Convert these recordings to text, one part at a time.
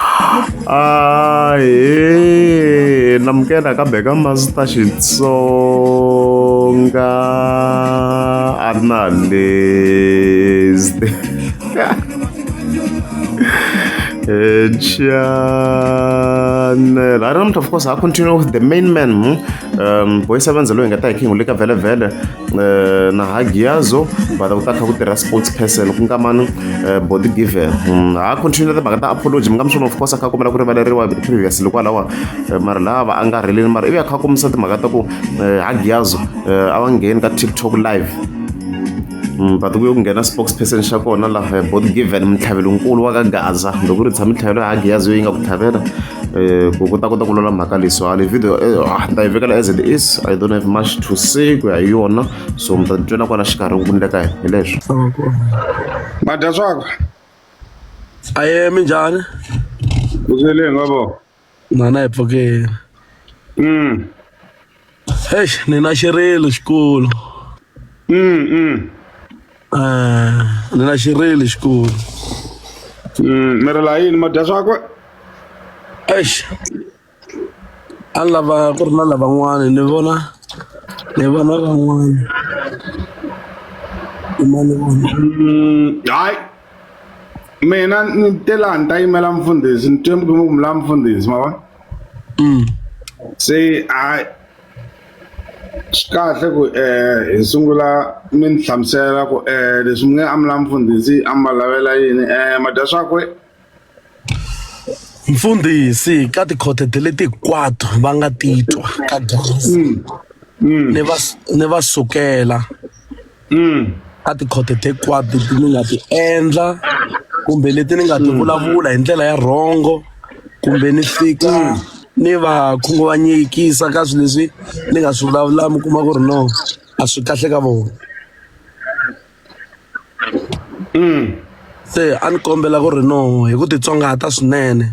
Ah, hey, namukela kambe ka masita xitsonga a ri na list chanel i don't of course i continue with the main man hmm? um boys avenze loyi hi nga ta hi khingu le ka vhelevhele eh, na hagiazo but ku ta kha ku tirha sports person ku nga mani eh, body given hmm, ha continue na timhaka ta apology mi nga mi swona of course a kha kombela ku rivaleriwa previous loko alawa eh, mara lava a nga rheleli mara ivi a kha kombisa timhaka ta ku hagiazo a va ngheni ka tiktok live Mm, but kuye kungena spokesperson xa kona laha bot given mintlhavelonkulu wa ka gaza loko ri tshama mintlhavelo ya hagiyazi yo yi nga ku tlhavela eh, ku ku ta kota ku lula mhaka leyi so hali video eh, ah, ni ta yi vekela as it is i don't have much to say ku ya hi yona so mi ta ni twela kwala xikarhi ku nile ka yena hi leswo madya swakwe aye minjhani kuzeleni ngabo nana hi pfukeni mm Eish, ni na xirilo xikulu Mm, mm, Eh, ni na xirilo xikulu mm. mi ri la yini ma dya swakwe eish a ni lava ku ri na lavan'wana ni vona ni vona van'wana ima ni vona Mm, hayi mina ni te laha ni ta yimela mfundhisi ni twe mukumukumula mfundhisi ma vona se a swi kahle ku um hi sungula mi ni hlamusela ku um leswi mi nge a mi la mfundhisi a mi va lavela yini um ma dya swakwe mfundhisi ka tikhothete leti hinkwato va nga titwa ka gezi ni va ni va sukela ka tikhoto hinkwato leti ni nga ti endla kumbe leti ni nga ti vulavula hi ndlela ya rhongo kumbe ni fika ni va khunguvanyekisa ka swilo leswi ni nga swi vulavula mi kuma ku ri no a swi kahle ka vona se a ni kombela ku ri no hi ku titsongahata swinene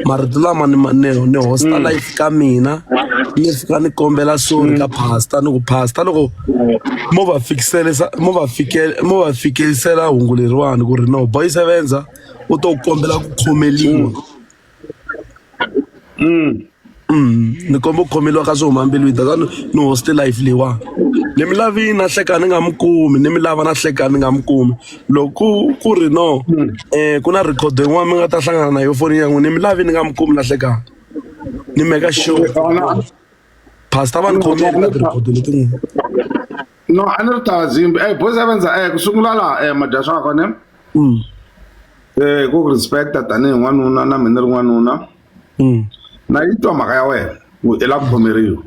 marito lama ni ma- ni ni hosta life ka mina ni fika ni kombela sorry ka pasta ni ku pasta loko mo va fikiselisa mo va fikele mo va fikelisela hungu leriwani ku ri no boy sevenza u to kombela ku khomeliwa ni komba ku khomeliwa ka swi huma mbilwini that's why ni ni hoste life leyiwani ni mi lavini na hleka ni nga mi kumi ni mi lava na hleka ni nga mi kumi loko ku ku ri no um ku na record yin'wana mi nga ta hlangana na yo foni ya n'wina ni mi lavi ni nga mi kumi na hlekani ni meka sure Xana- pastor va ni khomeli ka ti-record letin'wana no a ni ri ta zimba ey boys avenza ey ku sungula laha um eh, madyaxaka ne mm. eh ku respecta tanihi n'wanuna na mina ri n'wanuna mm. na yi twa mhaka ya wena ku i la khomeriwa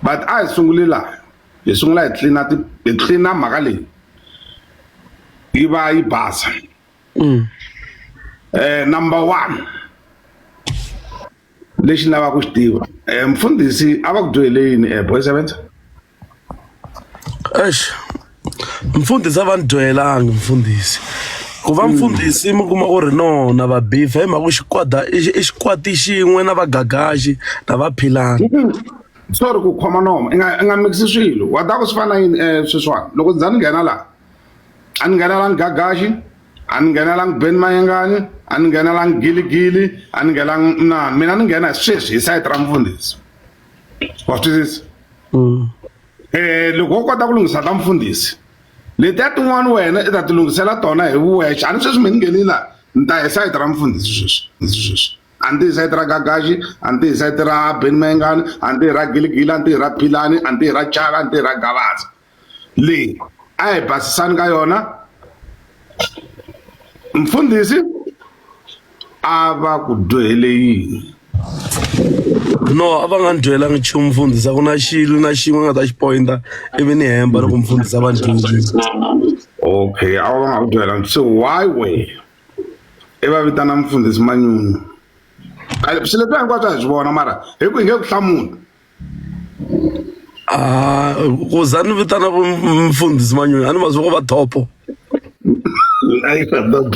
but a hi sunguli laha hi sungula hi tlina hi tlina mhaka leyi yi va yi basa um number one lexi ni lavaka ku xi tiva um mfundhisi a va ku dyohele yini um boy sevenza Eish mfundhisi a va ni dyohelanga mfundhisi ku va mfundhisi mi kuma ku ri nona va beef hi mhaka ku xikwada i xi- i xikwati xin'we na vagagaxi na va philani sorry ku khoma nomo i nga i nga mixi swilo wa ta ku swi fana na yini um sweswiwani loko ndzi za ni nghena laha a ni nghenelangi gagaxi a ni nghenelangi ben mayengani a ni nghenelangi giligili a ni nghenelangi mnani mina ni nghena hi sweswi hi sayiti ra mfundhisi wa twisisa mm. eh loko wo kota ku lunghisa ka mfundhisi letiya tin'wana wena i ta ti lunghisela tona hi wexe a ni sweswi mi ni nghenile laha ni ta hi sayiti ra mfundhisi sweswi sweswi a ni tihi sayiti ra gagaxi a ni tihi sayiti ra beni mayengani a ni tihi ra giligili a ni tihi ra philani a ni tihi ra chaka a ni tihi ra gavaza leyi a hi basisani ka yona mfundhisi a va ku dyohele yini no a va nga ni dyohelanga nchumu mfundhisa ku na xilo na xin'we nga ta xi pointa ivi ni hemba loko mfundhisa va ni dyondzisa okay a va nga ku dyohelanga se why way i va vitana mfundhisi manyunyu swi leswi hinkwaswo a hi swi vona mara hi ku hi nge ku hlamula Ah, ku za ni vitana ku mfundhisi manyoni a ni va zwi ko va thopo Ay, perdón.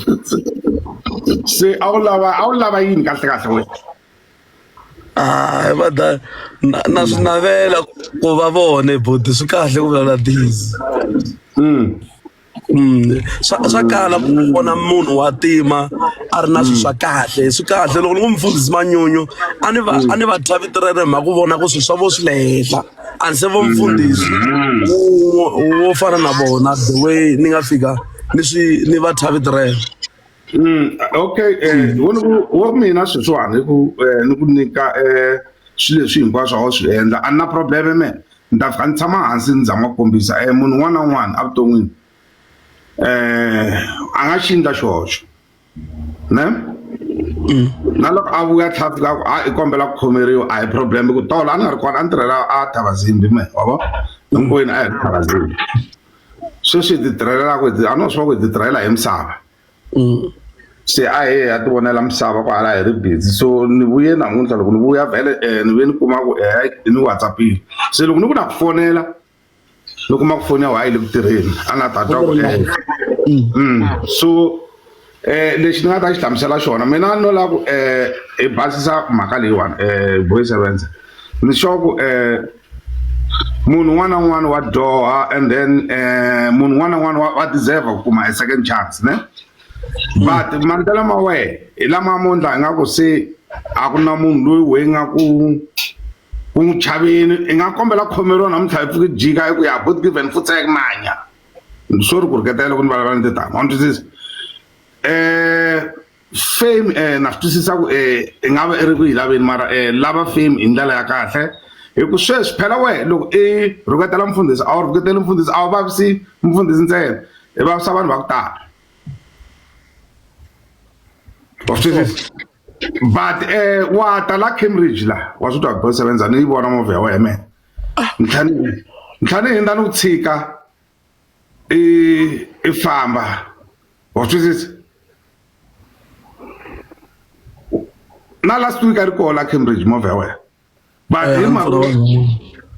Se a wu lava a wu lava yini kahle kahle wena? Ah, va da na na swi navela ku va vona boti swi kahle ku vulavula busy Mm. swa swa kala ku vona munhu wa tima a ri na swilo swa kahle swi kahle loko ni ku mufundhisi manyunyu a ni va a ni va twa vito ra rena mhaka ku vona ku swilo swa vo swi le henhla a ni se vo mfundhisi wo wo fana na vona the way ni nga fika ni swi ni va twa vito rena okay wo ni ku wo mina sweswiwani ku ni ku nyika swilo leswi hinkwaswo a wu swi endla a ni na probleme me ni ta fika ni tshama hansi ni za ma kombisa e munhu un'wana na un'wana evuton'wini um a nga xi endla xihoxo ne mm. na loko a vuya tlha fika ku a i kombela ku khomeriwa a hi problem ku tolo a ni nga ri kona a ni tirhela a thavazimbi me wa vo hinkwenu a hi ri thavazimbi sweswi hi ti tirhelelaku a no swi va ku hi ti tirhela hi misava Mm. se a he ha ti vonela misava ku hala hi ri busy so ni vuye namuntlha loko ni vuya vhele um eh, ni vuye ni kuma ku eh, i ni whatsappile se loko ni ku na ku fonela ni kuma ku foni ya wa yi le ku tirheni a na ta twa ku eh. mm. mm. so um lexi ni nga ta xi hlamusela xona mina no lava ku um hi basisa mhaka leyiwani um boy sevenza ni sure ku um munhu un'wana na un'wana wa dyoha and then um munhu un'wana na un'wana wa deserve ku kuma a second chance ne but mandlela ma wehe hi lama mo ndla hi nga ku se a ku na munhu loyi weyi nga ku ku n'wi chaveni i nga kombela khomeriwa namuntlha hi pfuki jika hi ku ya god given futsek manya sorry ku riketela loko ni vulavula ni titama wa ni twisisa um fame eh na swi twisisa ku eh i nga va i ri ku yi laveni mara eh lava fame hi ndlela ya kahle hi ku sweswi phela wehe loko i rhuketela mfundhisi a wu rhuketeli mfundhisi a wu vavisi mfundhisi ntsena i vavisa vanhu va ku tala wa swi twisisa but eh wa ta la Cambridge la wa swi twa boy sevenza ni yi vona movha ya wena ntlhani ntlhani hinda ni ku tshika i i famba wa twisisa na last week a ri koho la Cambridge movha ya wena but hi eh, mhaka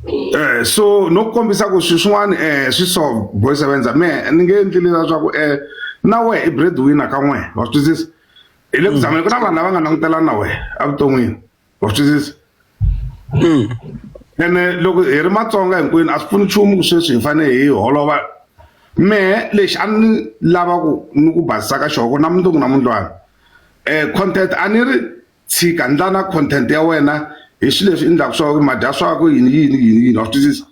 eh so no kombisa ku swi swin'wana eh swi so boy sevenza me ni nge endli leswaku eh na we i breadwinner ka n'we wa swi twisisa hi le ku zamela ku na vanhu lava nga langutelana na we evuton'wini wa swi twisisa ene loko hi ri matsonga hinkwenu a swi pfuni nchumu ku sweswi hi fanele hi holova mehe lexi a ni lava ku ni ku basisa ka xona ku na mundzuku na mundlwana um content a ni ri tshika ndlana content ya wena hi swilo leswi endlaka swa ku madya swako yini yini yini yini wa swi twisisa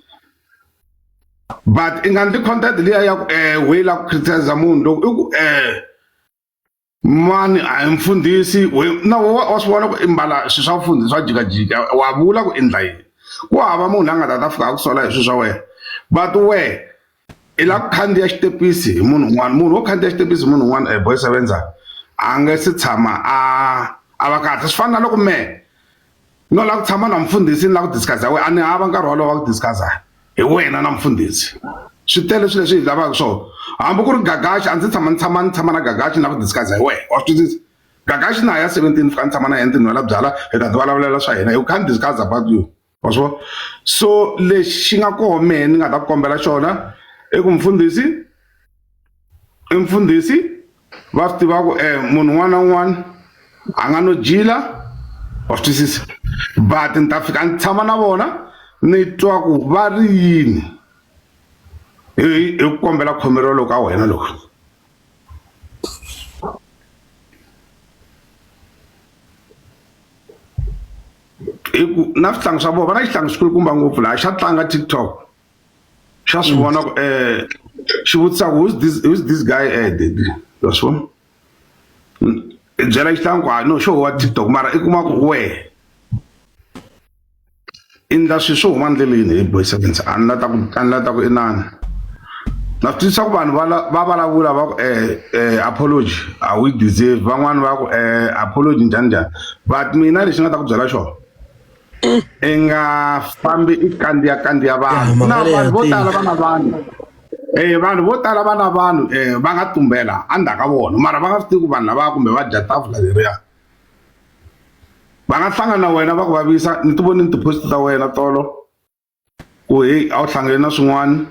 but i nga ndli content liya ya ku um why la ku criticize munhu loko i ku um mani a hi mfundhisi na wa swi vona ku i mbala swilo swa mfundhisi swa jikajika wa vula ku i ndla yini ku hava munhu la nga ta ta fika a ku sola hi swilo swa wena but wehe i la ku khandziya xitepisi hi munhu un'wana munhu wo khandziya xitepisi hi munhu un'wana e eh, boy sevenza a nge si tshama a a va kahle swi fana na loko mehe no lava ku tshama na mfundhisi ni lava ku discuss we a ni hava nkarhi wolowo wa ku discuss hi wena na mfundhisi swi tele swilo leswi hi lavaka swona hambi ku ri gagaxi a ndzi tshama ni tshama ni tshama na gagaxi na ku discuss hi wena wa swi twisisa gagaxi na ha ya seventeen fika ni tshama na yena ndzi nwela byala hi ta ti vulavulela swa hina you can't discuss about you wa swi vona so lexi nga koho mehe ni nga ta ku kombela xona i ku mfundhisi i mfundhisi va swi tiva ku eh, munhu un'wana na un'wana a nga no jila wa swi twisisa but ni ta fika ni tshama na vona ni twa ku va ri yini hi ku kombela khomelo loko ka wena loko hi ku na swihlangi swa vona va na xihlangi xikulukumba ngopfu laha xa tlanga tiktok xa swi vona ku um xi vutisa ku who's this, who's this guy ed wa swi vona i byela xihlangu ku hayi no xo wa tiktok mara i kuma ku wehe i ndla swilo swo huma ndleleni hi boy sevens a ni la ta ku a ni la ta ku inani na swi twisisa ku vanhu va vulavula va ku um um apology a wu yi deserve van'wani va ku um apology njhani njhani but mina lexi nga ta ku byela xona i nga fambi i kandziya kandziya vanhu na vanhu vo tala va na vanhu Eh vanhu vo tala va na vanhu eh va nga tumbela endzhaku ka vona mara va nga swi tivi ku vanhu lava kumbe va dya tafula leriya va nga hlangana na wena va ku vavisa ni ti voni ni ti-post ta wena tolo. ku heyi a wu hlangane na swin'wana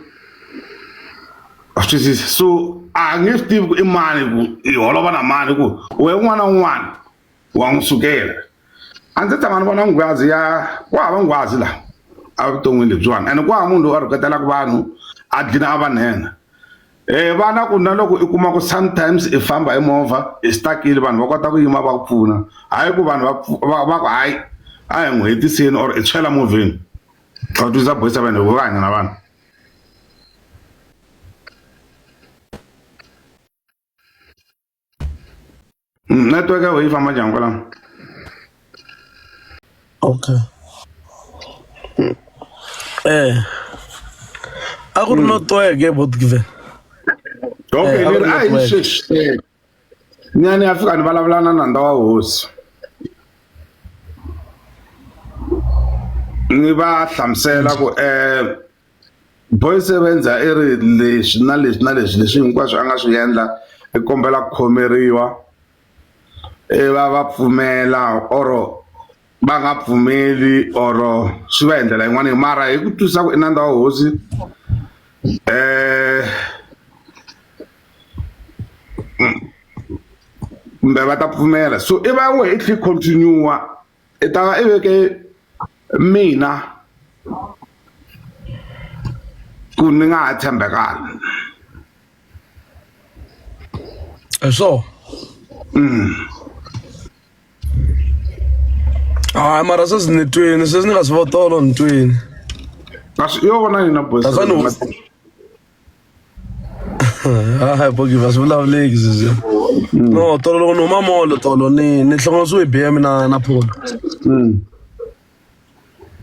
wa swi twisisa so a nge swi tivi ku i mani ku i holova na mani ku we un'wana na un'wana wa n'wi sukela a ndzi tshama ni vona nghwazi ya ku hava nghwazi laha evuton'wini lebyiwani ene ku hava munhu loyi a rhuketelaka vanhu a dlina a va nhenha Eh vana ku na loko i kuma ku sometimes i famba hi movha i stuckile vanhu va kota ku yima va ku pfuna hayi ku vanhu va va ku hayi a hi n'wi hetiseni or i tshwela movheni va twisa boyisa vanhu va hanya na vanhu Network ya wena yi famba njhani kwalano? Okay. Eh. A ku ri no tweke bot given. Okay, Eh, ni ri a hi network. sweswi. Ni a ni ya fika ni vulavula na nandza wa hosi. Ni va hlamusela ku eh Boyce Sebendza i ri leswi na leswi na leswi leswi hinkwaswo a nga swi endla i kombela ku khomeriwa i va va pfumela or va nga pfumeli or swi va hi ndlela yin'wana mara hi ku twisisa ku i nandza wa hosi kumbe va ta pfumela so i va wehe i tlhe i continue-a. I ta va i veke mina ku ni nga ha tshembekanga hi swona mm. hayi mara sweswi ni twini sweswi ni nga swi votolo ni twini kasi yo vona yina bosa hayi bogiva swi vulavuleki zizi no tolo loko ni huma molo tolo ni ni hlongonisiwe hi bm na na pholo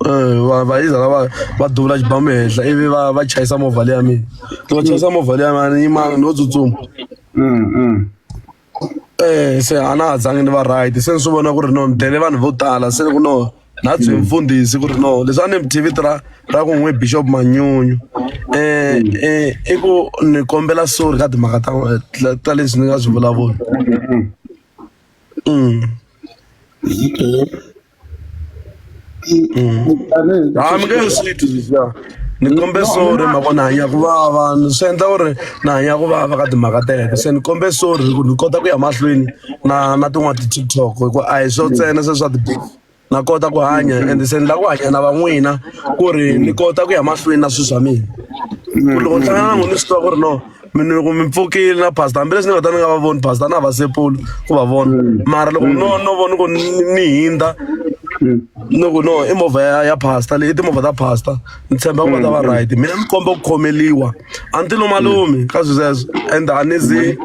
Eh, va va yiza la va va duvula xibamu henhla ivi va va chayisa movha leya mina loko va chayisa movha leya mina ni yima no tsutsuma se a na ha zangi ni va right se ni swi vona ku ri no ni dlele vanhu vo tala se ku no na byi mfundhisi ku ri no leswi a ni mi tv ra ra ku n'wi bishop manyunyu um i ku ni kombela sorry ka timhaka ta ta leswi ni nga swi vulavula um ha mi nge ni swi twi sweswiya ni kombe sorry ma vona hanya ku vava ni swi endla ku ri na hanya ku vava ka timhaka teto se ni kombe sorry ku ni kota ku ya mahlweni na na tin'wana ti-tiktok hi ku a hi swo ntsena se swa ti na kota ku hanya ende se ni lava ku hanya na van'wina ku ri ni kota ku ya mahlweni na swilo swa mina ku loko ni hlangana na n'wina ni swi tiva ku ri no mina loko mi pfukile na pastor hambileswi ni nga ta ni nga va voni pastor na vasepulu ku va vona mm. mara loko mm. no no vona ku ni hindza mm. ni ku no i movha ya ya pastor leyi i timovha ta pastor ni tshemba ku va ta va right mina ni komba ku khomeliwa a ni ti lo malume ka swilo sweswo and a ni zi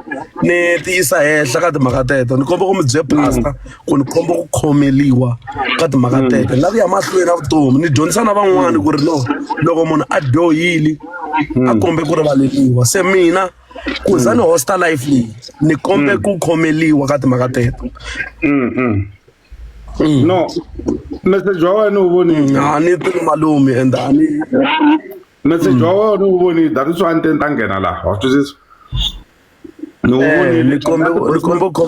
ni tiyisa henhla ka timhaka teto ni komba ku mi bye pastor ku ni khomba ku khomeliwa ka timhaka mm. tete nga ku ya mahlweni na vutomi ni dyondzisa na van'wani ku ri no loko munhu a dyohile a mm. kombe ku rivaleliwa se mina ku za ni mm. hosta life leyi ni kombe ku khomeliwa ka timhaka teto no message wa wena wu vonile a ni tini malume and a ni message wa wena wu vonile that is why ni te ni ta nghena laha wa swi twisisa ni wu vonile ni kombe ni kombe ku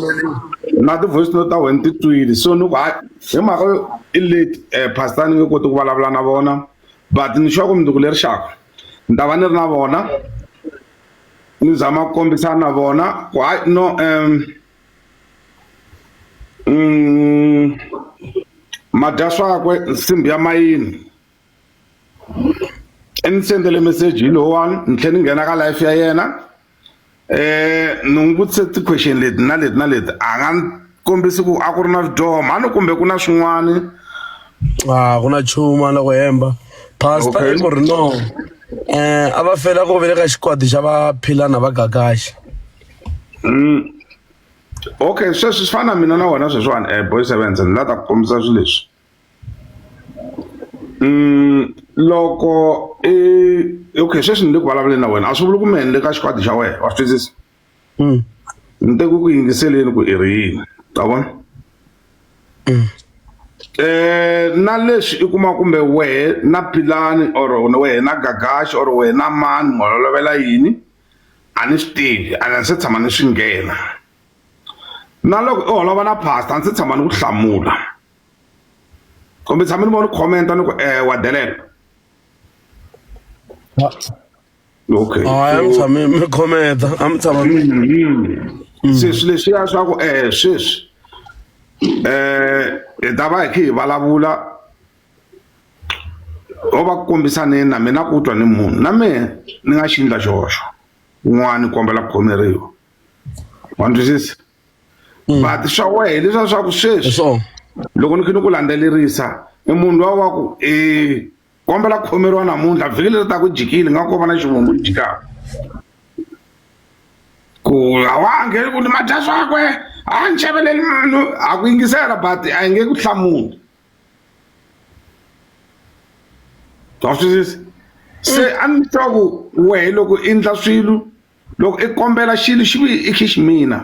na ti-voice note ta wena ti twile so ni ku hayi hi mhaka yo i late um pastor ni nge koti ku vulavula na vona but ni sure ku minduku leri xaka ni ta va ni ri na vona ni zama ku kombisana na vona ku hayi no um mm, madya swakwe nsimbi ya mayini i ni sendele meseji lowani ni tlhela ni nghena ka life ya yena um ni n'wi vutise ti-question leti na leti na leti a nga ni kombisi ku a ku ri na vidyoho mhani kumbe ku na swin'wani a ku na chuma loko hemba pasta i ku ri no um a va fela ku vele ka xikwadi xa va philana va gagaxi mm. okay sweswi swi fana na mina na wena sweswiwani um eh, boy sevense ni la ta ku kombisa swilo leswi loko i okay sweswi ni le ku vulavuleni na wena a swi vuli ku mehe ni le ka xikwadi xa wena wa swi twisisa mm. ni te ku ku yingiseleni ku i ri yini ta vona mm. eh na leswi i kuma kumbe wehe na pilani or wehe na gagaxi or wehe na mani mololovela yini a ni swi tivi a ni se tshama ni swi nghena na loko i holova na pastor a ni se tshama ni ku hlamula kumbe tshama ni vona ni comment-a ni ku eh, wa delela okay hayi a mi tshami mi khometa a mi tshama mi Mm-hmm. sweswi leswiya swa ku eh sweswi eh hi ta va hi khe hi vulavula o va kombisaneni na mina ku twa ni munhu na mehe ni nga xindla xihoxo un'wana ni kombela ku khomeriwa wa ni twisisa mm. but swa wehe hileswa swa ku sweswi loko ni khe ni ku landzelerisa i munhu lowa wa ku um kombela ku khomeriwa namuntlha vhiki leri ta ku jikile nga ko va na xivumbu ni jikaka ku a wa ngheni ku ni madya swakwe a ni xaveleli munhu a ku yingisela but a hi nge ku hlamuli wa swisisa se a ni twa ku wehe loko i ndla swilo loko i kombela xilo xi vuye i xiximina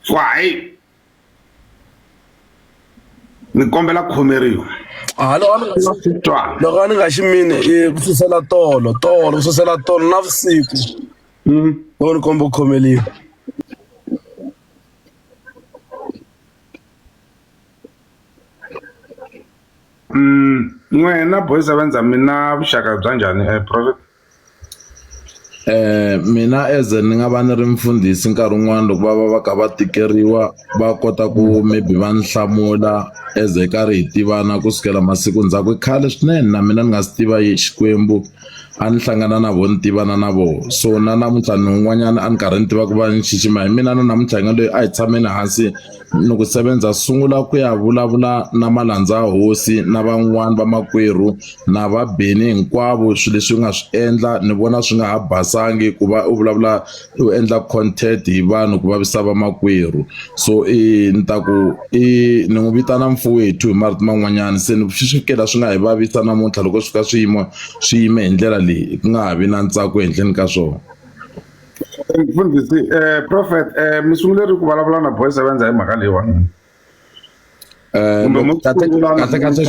so hayi ni kombela ku khomeriwa ha loko a ni nga xi titwa loko a ni nga xi mini i ku susela tolo tolo ku susela tolo na vusiku Mm. loko ni komba ku khomeliwa Mm, n'wina boys va ndza mi na vuxaka bya njhani eh, prophet Mina as ni nga va ni ri mfundhisi nkarhi wun'wani loko va va va kha va tikeriwa va kota ku maybe va ni hlamula as hi karhi hi tivana kusukela masiku ndzhaku i khale swinene na mina ni nga si tiva yi Xikwembu a ni hlangana na vo ni tivana na vo so na namuntlha ni un'wanyana a ni karhi ni tiva ku va ni xixima hi mina na namuntlha hi nga lweyi a hi tshameni hansi. ni ku sebenza sungula ku ya vulavula na malandza hosi na van'wani va makwerhu na va beni hinkwavo swi leswi u nga swi endla ni vona swi nga ha basangi ku va u vulavula u endla content hi vanhu ku vavisa va makwerhu so i ni ta ku i ni n'wi vitana mfowethu hi marito man'wanyana se ni swi fikela swi nga hi vavisa namuntlha loko swi ka swiyimo swi yime hi ndlela leyi ku nga ha vi na ntsako ehenhleni ka swona mfundhisi eh, prophet eh, mi sungule ri ku vulavula na boys va endza hi mhaka leyiwani eh, kumbe mo kahlekahle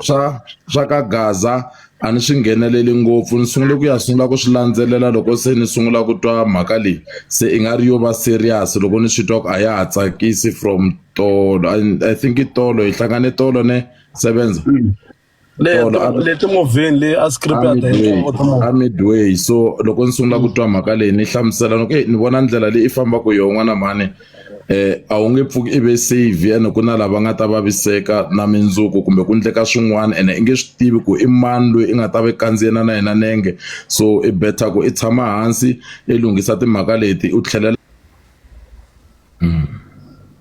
swa swa ka gaza a ni swi ngheneleli ngopfu ni sungule ku ya sungula ku swi landzelela loko se ni sungula ku twa mhaka leyi se i nga ri yo va serious loko ni swi twa ku a ya ha tsakisi from tolo i think i tolo hi hlangane tolo ne sevenza mm. leti movheni leyi a scripta midway so loko ni sungula ku twa mhaka leyi ni hlamusela ni ku ni vona ndlela leyi i fambaka hi yona n'wana mhani um a wu nge pfuki i ve save ene ku na lava nga ta vaviseka na mindzuku kumbe ku ndleka swin'wana ene i nge swi tivi ku i mani loyi i nga ta va i kandziyena na yena nenge so i better ku i tshama hansi i lunghisa timhaka leti u tlhelela hmm.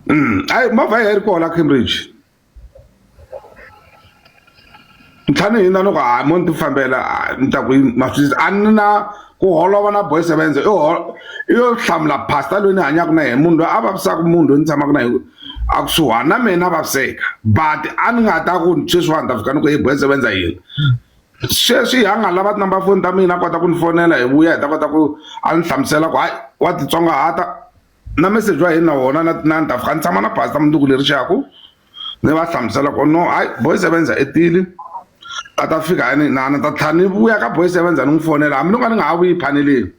hmm. ayi movha yi ri kona cambridge ntlhanu hina loko ha mo ni ti fambela ni ta ku ma swi a ni na ku holova na boy sevenze i i yo hlamula pastor loyi ni hanyaka na yena munhu loyi a vavisaka munhu loyi ni tshamaka na yena a kusuhani na mina a vaviseka but a ni nga ta ku sweswiwani ta fika ni ku i boy sevenza yini sweswi ha nga lava tinumber foni ta mina a kota ku ni fonela hi vuya hi ta kota ku a ni hlamusela ku hayi wa titsongahata na message wa hina wona na na ndhawu kha ni tshama na pastor munduku leri xaku ni va hlamusela ku no hayi boy sevenza i tile a ta fika yani na na ta tlha ni vuya ka boy sevenza ni n'wi fonela hambi ni nga ni nga ha vuyi phaneleni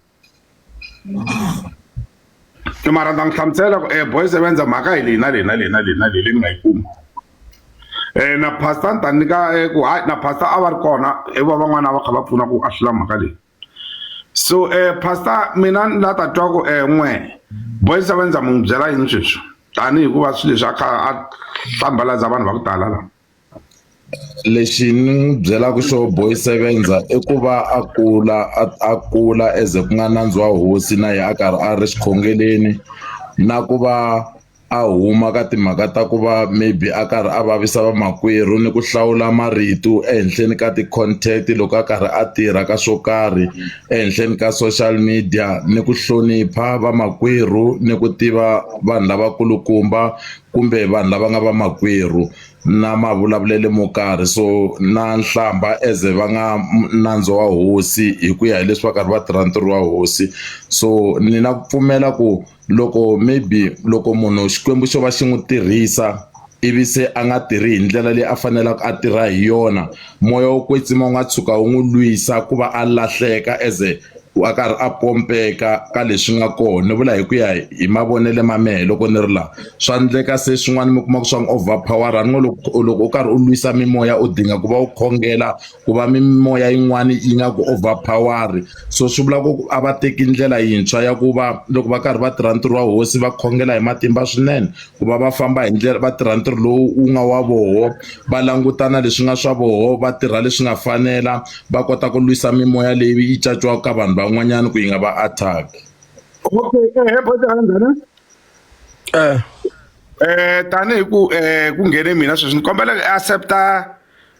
ke mara ndza n'wi hlamusela ku e boy sevenza mhaka hi leyi na leyi na leyi na leyi na leyi leyi ni nga yi kuma um na pastor ni ta nyika ku hayi na pastor a va ri kona i va van'wana a va kha va pfuna ku a hlula mhaka leyi so eh pastor mina ni la ta twa ku eh n'we boys va ndza mu byela yini sweswi tanihi ku va swilo leswi a kha a hlambalaza vanhu va ku tala lava lexi ni n'wi byelaka xo boy sevenza i ku va a kula a kula eze ku nga nandzi wa hosi na yena a karhi a ri xikhongeleni na ku va a huma ka timhaka ta ku va maybe a karhi a vavisa vamakwerhu ni ku hlawula marito ehenhleni ka ti-content loko a karhi a tirha ka swo karhi ehenhleni ka social media ni ku hlonipha vamakwerhu ni ku tiva vanhu lavakulukumba kumbe vanhu lava nga vamakwerhu na mavulavulelo mo karhi so na nhlamba as a va nga nandzu wa hosi hi ku ya hileswi va karhi va tirha ntirho wa hosi so ni na ku pfumela ku. loko maybe loko munhu Xikwembu xo va xi n'wi tirhisa ivi se a nga tirhi hi ndlela leyi a faneleke a tirha hi yona moya wo kwetsima wu nga tshuka wu n'wi lwisa ku va a lahleka as a ku a karhi a pompeka ka leswi nga kona ni vula hi ku ya hi mavonelo ma mehe loko ni ri laha swa endleka se swin'wana mi kuma ku swa n'wi over power ni ngo loko loko u karhi u lwisa mimoya u dinga ku va u khongela ku va mimoya yin'wana yi nga ku overpower so swi vula ku a va teki ndlela yintshwa ya ku va loko va karhi va tirha ntirho wa hosi va khongela hi matimba swinene ku va va famba hi ndlela va tirha ntirho lowu wu nga wa voho va langutana leswi nga swa voho va tirha leswi nga fanela va kota ku lwisa mimoya leyi yi caciwaka ka vanhu van'wanyana ku yi nga va attack okay eh, eh, eh, eh tanihi ku eh ku nghene mina sweswi ni kombela accepta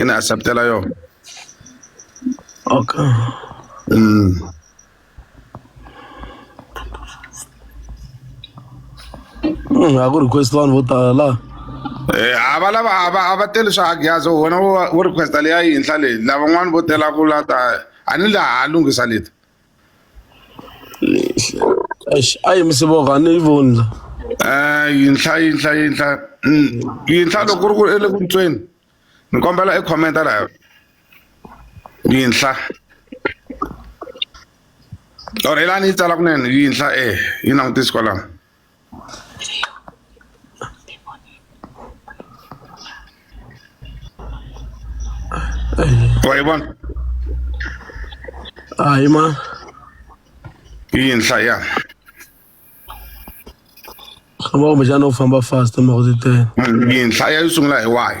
ị na-aseptela ya ọka Mm. Mm, I go request one with Allah. Eh, a va lava a va a va teli swa agyazo wena wo wo requesta leya yinhla leyi lavan'wani vo tela ku lata a ni laha a lunghisa leti Eish, a yi misi voko a ni yi voni la Eh, yinhla yinhla yinhla Mm, yinhla loko ku ri ku i le ku ntsweni ni kombela i commenta laha yinhla or i la ni yi tsala kunene yinhla eh yi langutisi kwalano Wayiba. Hayi ma. Yinhla ya. Ngaba kumbexana u famba fast mhaka ti tele. Yinhla ya yi sungula hi wahi?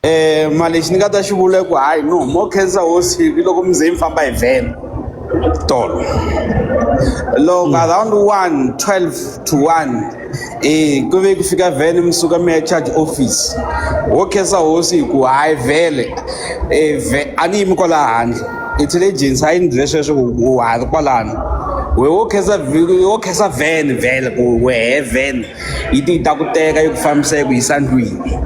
Mara lexi ni nga ta xi vula ku hayi no more khensa hosi hi loko mi ze mi famba hi vhele tolo loko around one twelve to one ku ve ku fika vhele mi suka mi ya charge office ho khensa hosi hi ku hayi vhele a ni yimi kwala handle intelligence a yi ni byele sweswo wa ha ri kwalano wehe wo khensa wo khensa vhele vhele ku wehe vhele. yi ti yi ta ku teka yi ku fambisa yi ku yisa ndlwini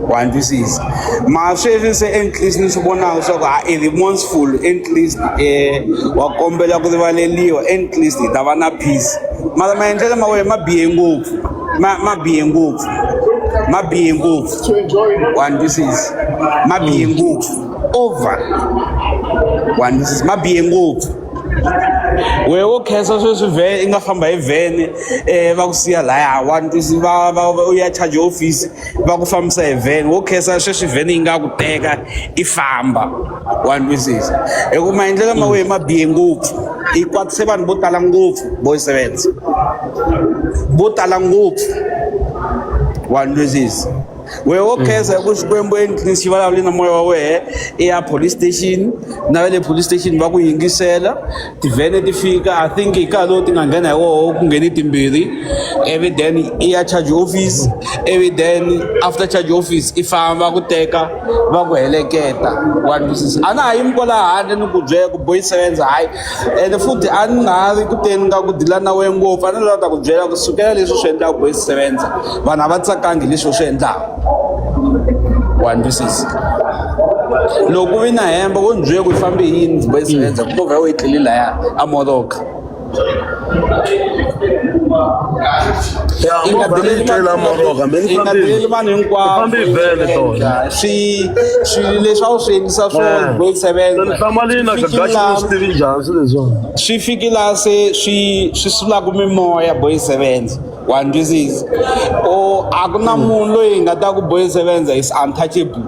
wa ni twisisa mara sweswi se enklisti ni swi vonaka leswaku a i remorseful enklisti um eh, wa kombela ku rivaleliwa enklisti hi ta va na peace mara maendlelo ma wena ma bihe ngopfu ma ma bihe ngopfu ma bihe ngopfu wa ni twisisa ma bihe ngopfu over wa ni twisisa ma bihe ngopfu wehe wo khensa sweswi vhele i nga famba hi vhene um va ku siya laya one two va va va u ya charge hofisi va ku fambisa hi vhene wo khensa sweswi vhene yi nga ku teka i famba wa ni twisisa hi ku maendlelo ma wehe ma bihe ngopfu i kwatise vanhu vo tala ngopfu boy sevenza vo tala ngopfu wa ni twisisa. wehe wo khensa hi ku xikwembu endlini xi vulavule na moya wa wehe i ya police station na va le police station va ku yingisela tivhene ti fika i think hi nkarhi lowu ti nga nghena hi woho ku ngheni timbirhi ivi then i ya charge office ivi then after charge office i famba ku teka va ku heleketa wa twisisa a na ha yimi kwalaha handle ni ku byela ku boyiseka endzhaku hayi ene futhi a ni nga ha ri ku teni ka ku dila na wena ngopfu a ni lava ta ku byela ku sukela leswi swi endlaka boy sevenza vanhu a va tsakangi hi leswi u swi endlaka wa ni twisisa loko u vi na hemba wo ni byela ku yi fambe yini boy sevenza ku movha ya wena yi tlele laya a moroka i nga deleli tlela moroho kambe i nga deleli vanhu hinkwavo swi swilo leswi a wu swi endlisa swona boy sevenza swi fiki laha se swi swi sulaka mimoya boy sevenza wa ndwisizi o a ku na munhu loyi nga ta ku boy sevenza is untouchable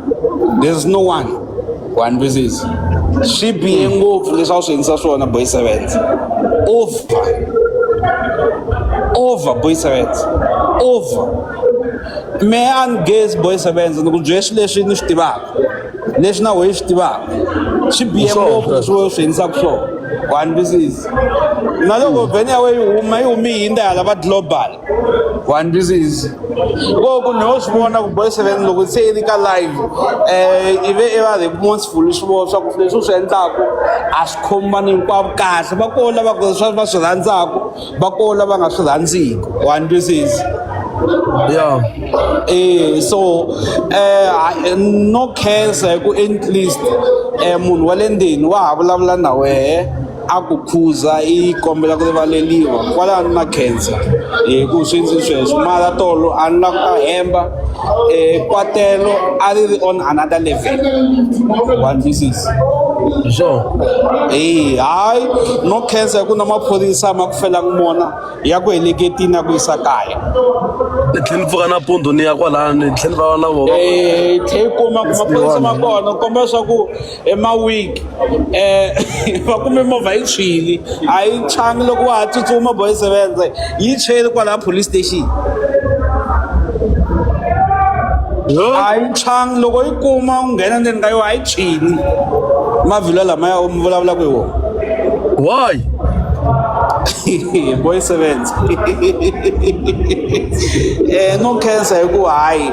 there's no one wa ndwisizi swi bihe ngopfu leswi a wu swi endlisa swona boy sevenza over over boy sevenza over me a ni gezi boy sevenza ni ku byela swileswi ni swi tivaka leswi na wehe swi tivaka swi biye ngopfu swo swi endlisa ku swona one this is na loko vhene ya wena yi huma yi humi yi hindza hala va global one this is ko ku no swi vona ku boy seven loko se yi ri ka live um i ve i va remorseful swi vona swa ku leswi u swi endlaku a swi khomi vanhu hinkwavo kahle va koho lava swa va swi rhandzaka va ko lava nga swi rhandziki u andwisizi ya eh so eh no cancer hi ku at least eh munhu wa le ndini wa ha vulavula na wehe a ku khuza i kombela ku rivaleliwa kwalano na cancer hi ku swi ndzi sweswo mara tolo a ni la ku ta hemba eh, kwatelo a ri ri on another level one this is so eyi hayi no khensa hi ku na maphorisa ma ku felanga mona ya ku heleketini ya ku yisa kaya ni tlhela ni pfuka nampundzu ni ya kwalano ni tlhela ni va na vona um tlhe yi kuma ku maphorisa ma kona komba leswaku emawigi um va kume movha yi tshwile a yi tshwangi loko wa ha tsutsuma boy sevenze yi tshwele kwalaha police station a yi tshwangi loko yi kuma u nghena ndzeni ka yona a yi tshwini mavhilwa lamaya u mi vulavulaka hi wona why boy sevenze um no cancer hikuva hayi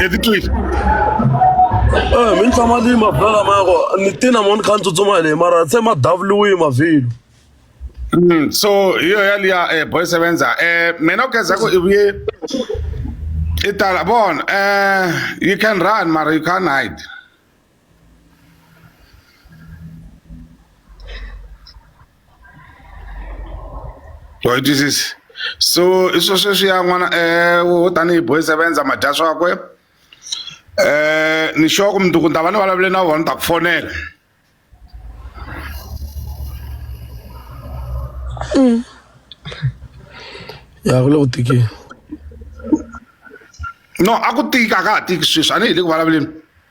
Evitwile eeh mi ni tshama ni yima bolo lamaya ku ni ti na mo ni kha ni tsutsuma hi leyi mara se ma davuriwile mavhilwa Mm, so hi yo yaliya eh, boy sevenza eh, mina u khensa ku i vuye i tala bona eh, you can run mara you can't hide wa yi twisisi so i swo sweswiya n'wana um tanihi boy sevenza ma dya swakwe um ni sure ku mundzuku ni ta va ni vulavule na vona ni ta ku fonela mm. ya ku le ku tikeni no a ku tika a ka ha tiki sweswi a ni hi le ku vulavuleni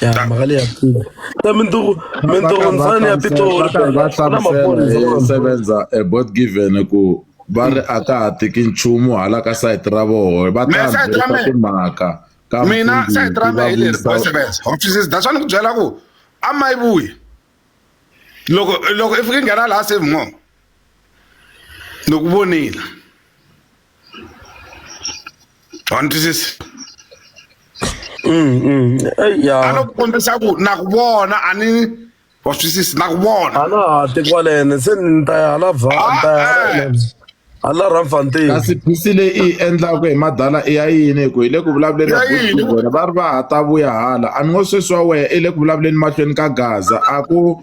ya magale ya pula ta mintogo mintogo ntsane ya pitoro sevenza a board given ku va ri a ka ha tiki nchumu hala ka sayiti ra voho va ta byela timhaka ka mina sayiti ra mehe leri boy sevenza wa twisisa that's why ni ku byela ku a ma yi vuyi loko loko i fike nghena laha save mo ni ku vonile wa ni twisisa a no ku kombisa ku na ku vona a ni wa swisisi na ku vona hala tiko walene se ni ta ya hala va ni ta ya hala yena. hala ramfantini kasi phisi leyi i yi endlaka hi madala i ya yini hi ku hi le ku vulavuleni Ya yini? vona va ri va ha ta vuya hala a ni ngo sweswi wa wehe i le ku vulavuleni mahlweni ka gaza a ku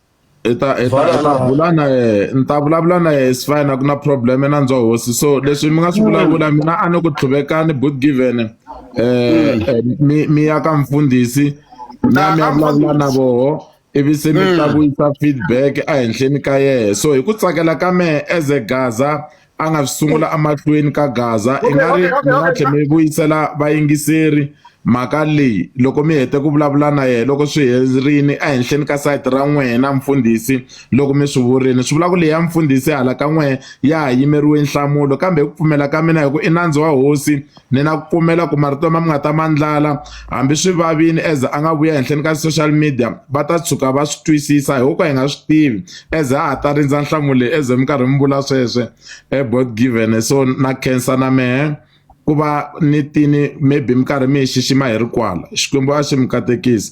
i ta i ta ta bula na yena ni ta vulavula na yena is fine a ku na problem na ndzo hosi so leswi mi nga swi vulavula mina a ni ku tlhuvekani but given eh, hmm. eh mi mi ya ka mfundhisi na mi ya vulavula na voho ivi se mi hmm. ta vuyisa feedback ehenhleni ka yena so hi ku tsakela ka mehe as a gaza a nga swi sungula emahlweni ka gaza i nga ri mi nga tlhe mi vuyisela vayingiseri mhaka leyi loko mi hete ku vulavula na yena loko swi herini ehenhleni ka sayiti ra n'wina mfundhisi loko mi swi vurile swi vula ku leyi ya mfundhisi hala ka n'wehe ya ha yimeriwe nhlamulo kambe hi ku pfumela ka mina hi ku i nandzu wa hosi ni na ku kumela ku marito ma mi nga ta mandlala hambi swi vavini as a nga vuya henhleni ka social media va ta tshuka va swi twisisa hi ka hi nga swi tivi as a ha ta rindza nhlamulo leyi as mi karhi mi vula sweswe ebot eh, given so na cancer na mehe ku va ni tini maybe mi karhi mi yi xixima hi ri kwala xikwembu a xi mi katekisi